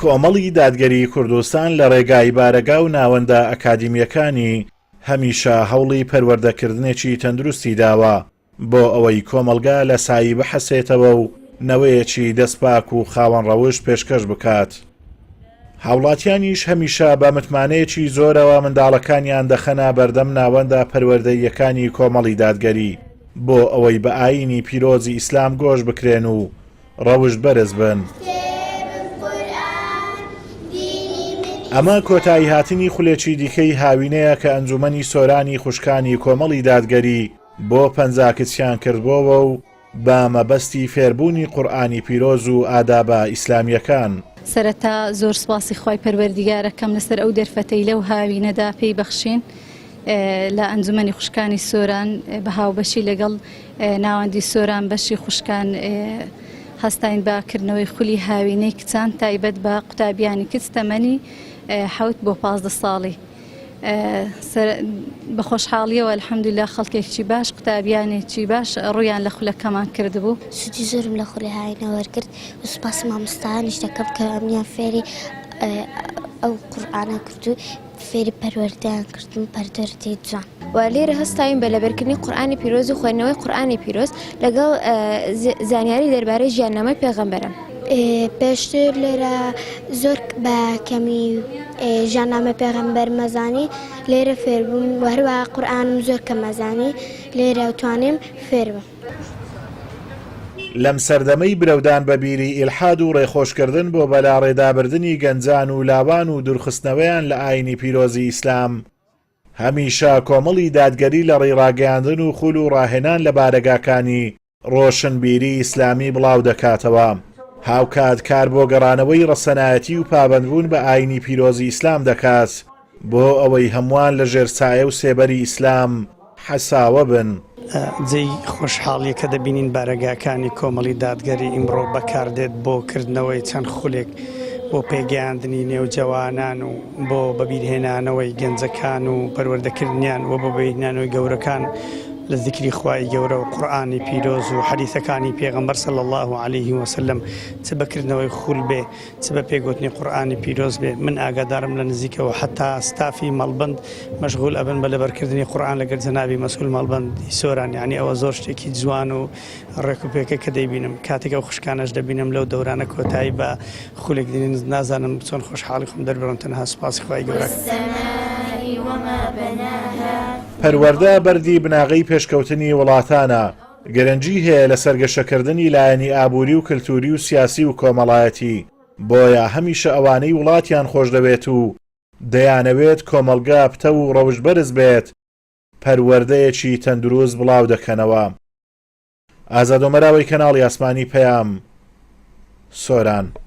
کۆمەڵی دادگەری کوردستان لە ڕێگای بارەگا و ناوەندە ئەکادیمیەکانی هەمیشە هەوڵی پەروەردەکردنێکی تەندروستی داوە بۆ ئەوەی کۆمەڵگا لە سایی بحەسێتەوە و نەوەیەکی دەستپاک و خاوەن ڕەوشت پێشکەش بکات. هاوڵاتیانیش هەمیشە بە متمانەیەکی زۆرەوە منداڵەکانیان دەخەنە بەردەم ناوەندە پەروەردەییەکانی کۆمەڵی دادگەری بۆ ئەوەی بە ئایینی پیرۆزی ئیسلام گۆش بکرێن و ڕەوشت بەرز بن. ئەمە کۆتاییهاتنی خولێکی دیکەی هاوینەیە کە ئەنجوومەنی سۆرانی خوشکانی کۆمەڵی دادگەری بۆ پەنجا کچیان کردبۆوە و بە مەبەستی فێربوونی قورئانی پیرۆز و ئادابە ئیسلامیەکان. سەرەتا زۆر سوپاسی خوای پەروەردیگار ئەکەم لەسەر ئەو دەرفەتەی لەو هاوینەدا پێی بەخشین لە ئەنجومەنی خوشکانی سۆران بە هاوبەشی لەگەڵ ناوەندی سۆران بەشی خوشکان هەستاین بە کردنەوەی خولی هاوینەی کچان تایبەت بە قوتابیانی کچ تەمەنی حوت بۆ پازدە ساڵی بەخۆشحاڵیەوە الحمدللە خەڵکێکی باش قوتابیانێکی باش ڕویان لە خولەکەمان کردبوو سودی زۆرم لە خولی هاینە وەرگرت سوپاسی مامۆستایانیش دەکەم کە ئەمیان فێری ئەو قورآانە کردو فێری پەروەردەیان کردم پەردەردی جوان و لێرە هەستاوین بە لەبەرکردنی قورآانی پیرۆز و خوێندنەوەی قورآانی پیرۆز لەگەڵ زانیاری دەربارەی ژیاننامەی پێغەمبەرم پێشتر لێرە زۆر بە کەمی ژانامە پێغەمبەر مەزانی لێرە فێربووم و هەروە قورآانم زۆر کە مەزانی لێرە توانێم فێربم. لەم سەردەمەی برەودان بە بیری ئیلحاد و ڕێخۆشکردن بۆ بەلاڕێدابردنی گەنجان و لاوان و دورخستنەوەیان لە ئاینی پیرۆزی ئیسلام، هەمیشە کۆمەڵی دادگەری لە ڕێڕاگەیاندن و خول و ڕاهێنان لە بارەگاکانی ڕۆشنبیری ئیسلامی بڵاو دەکاتەوە. هاوکات کار بۆ گەڕانەوەی ڕەسەنایەتی و پابەندبوون بە ئایینی پیرۆزی ئیسلام دەکات بۆ ئەوەی هەمووان لە ژێر سایە و سێبەری ئیسلام حەساوە بن. جێی خۆشحاڵییە کە دەبینین بارەگاکانی کۆمەڵی دادگەری ئیمڕۆ بەکاردێت بۆ کردنەوەی چەند خولێک بۆ پێگەیاندنی نێوجەوانان و، بۆ بەبیرهێنانەوەی گەنجەکان و پەروەردەکردنیان و بۆ بەبیرهێنانەوەی گەورەکان لە زیکری خوای گەورە و قورئانی پیرۆز و حەدیثەکانی پێغەمبەر صلی اللە علیه وسلم چ بەکردنەوەی خول بێ چ بە پێگوتنی قورئانی پیرۆز بێ من ئاگادارم لە نزیکەوە حتا ستافی مەڵبند مەشغول ئەبن بە لەبەرکردنی قورئان لەگەر جەنابی مەسول مەڵبەندی سۆران یانی ئەوە زۆر شتێکی جوان و ڕێک و پێکە کە دەیبینم کاتێک ئەو خوشکانەش دەبینم لەو دەورانە کۆتایی بە خولێک دێن نازانم چۆن خۆشحاڵی خۆم دەربڕم تەنها سوپاسی خوای گەورە پەروەردە بەردی بناغەی پێشکەوتنی وڵاتانە، گرنگی هەیە لەسەر گەشەکردنی لایەنی ئابووری و کلتووری و سیاسی و کۆمەڵایەتی، بۆیە هەمیشە ئەوانەی وڵاتیان خۆشدەوێت و دەیانەوێت کۆمەڵگا پتەو و ڕەوشتبەرز بێت، پەروەردەیەکی تەندروست بڵاو دەکەنەوە. ئازادۆمەراوەی کەناڵی ئاسمانی پەیام سۆران.